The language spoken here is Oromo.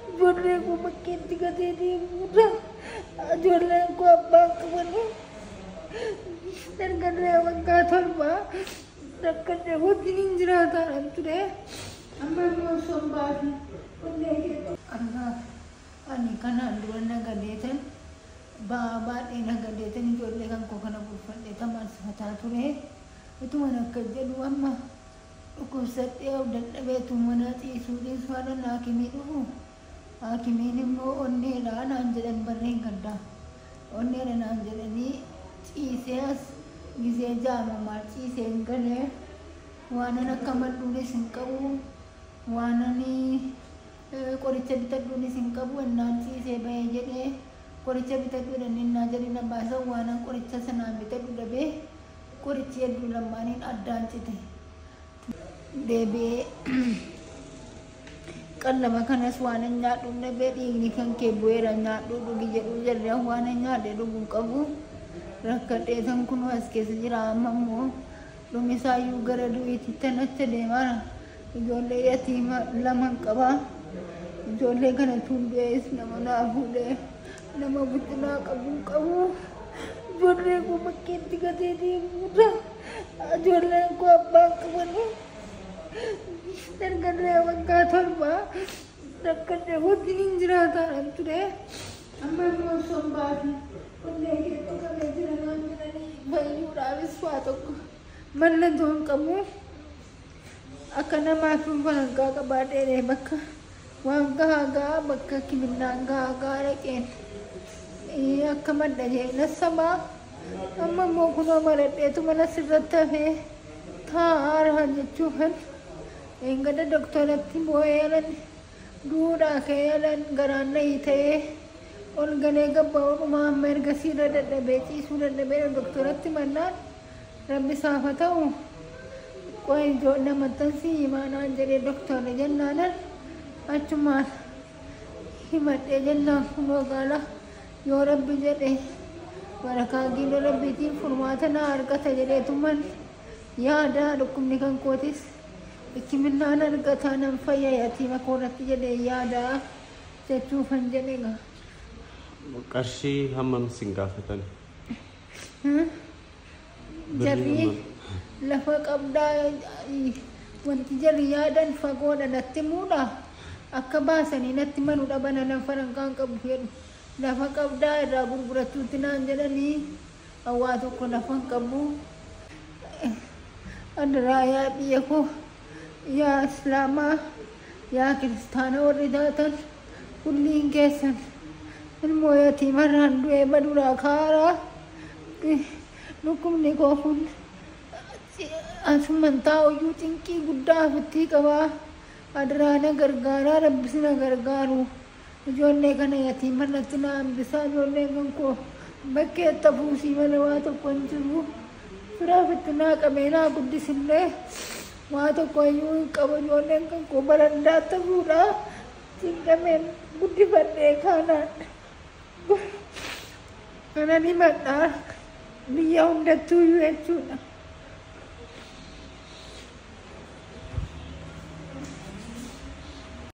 Ijoolleen koo bakkeetti gatee deemuudha. Ijoolleen koo abbaan qabanii erga du'ee waggaa torbaa rakkadhee wajjin hin jiraataa kan ture. Amma immoo osoo hin baafne onnee keessa. Argaa ani kanaan dura nagadeetan ba'aa baadhee nagadeetan ijoollee kan koo kana bulfadhee tamaan sifataa ture. Utuman akka jedhu amma Dhukkubsadhee of dadhabee utuu manaa ciisuu dhiisuu anan haakimii dhufu haakimiin immoo onneedha naan jedhan bara dheengaddaa. Onneedha naan jedhanii ciisee as gizee ja'a moo maal ciiseen gale. Waanan akka madhuunis hin qabu. Waanan qoricha bitadhuunis hin qabu. Ennaan ciisee bahee jedhee qoricha bitadhu jedhanii ennaa jedhee na baasan waanan qoricha sanaan bitadhu dhabee Qorichi hedduu lammaaniin addaan cite. Deebi'ee qallaba kanas waanan nyaadhu hin dhabee dhiigni kan kee bu'eera nyaadhuu dhugi jedhuu jarri an waanan nyaadhee dhugu hin qabu rakkadheetan kunuu as keessa jira amma immoo dhumisaayyuu gara du'iitittan acha deemaara ijoollee yatiima laman qabaa ijoollee kana tuun du'ees nama naa fuudhee Nama guddinaa qabu qabu ijoollee koo bakkeetti gatee deemuudha. Ijoolleen koo abbaa qabanii dargaggaa waggaa torbaa rakkadhee wajjin hin jiraataan ture. Amma immoo son baati onnee kee tuqamee jira naan jedhanii fayyuudhaafis waa tokko mallattoo hin qabu. Akka namaa dhuunfaa hangaa qabaadhee bakka waan gahaa gahaa bakka kiminaan gahaa gahaa dhaqeen akka madda keenya sabaa amma immoo kunoo maradheetu mana sirratti hafee taa'aara jechuufan eengada doktoratti boo'ee yalan duudhaa kee yalan garaan nayii ta'ee ol galee gabba'uu dhumaa amma erga siirra dadhabee ciisuu dadhabee doktoratti mannaan Rabbi isaaf haa ta'u qoy ijoollee maxxansii himaa naan jedhe doktorri jennaanan achumaan himadhe jennaan kunoo gaala yoo rabbi jedhe barakaa giidoo rabbiitiin furmaata naa argata jedheetuman yaada dhukkubni kan kootis hikiminnaan argataa nan fayya yatiima koorratti jedhe yaada jechuufan jedhe gaa. Qarshii hammam isin gaafatan? Jarri lafa qabdaa wanti jarri yaadan fagoodha natti muudha akka baasanii natti manu dhabana nan farankaan qabu jedhu lafa qabdaa irraa gurgurattuutti naan jedhanii waa tokko lafan qabu adaraa yaa biyya koo. Yaa islaamaa yaa kiristaana warri taatan kulliin keessan ilmoo yatiimarraan du'ee baduraa ka'aaraa dhukkubni koo kun asuman taa'uyyuu cinqii guddaa ofittii qabaa adaraa na gargaaraa rabbi sina gargaaru Ijoollee kana yatiimman natti na hambisaa ijoolleen kan koo bakkee itti hafuusii malee waa tokko hin jiru. Fira ofitti naa qabee naa guddisillee waa tokko iyyuu hin qabu ijoolleen kan koo barandaa ta'uudha. Cinqameen guddifadhee kaanaan kanan himadha biyya hundattuu iyyuu jechuudha.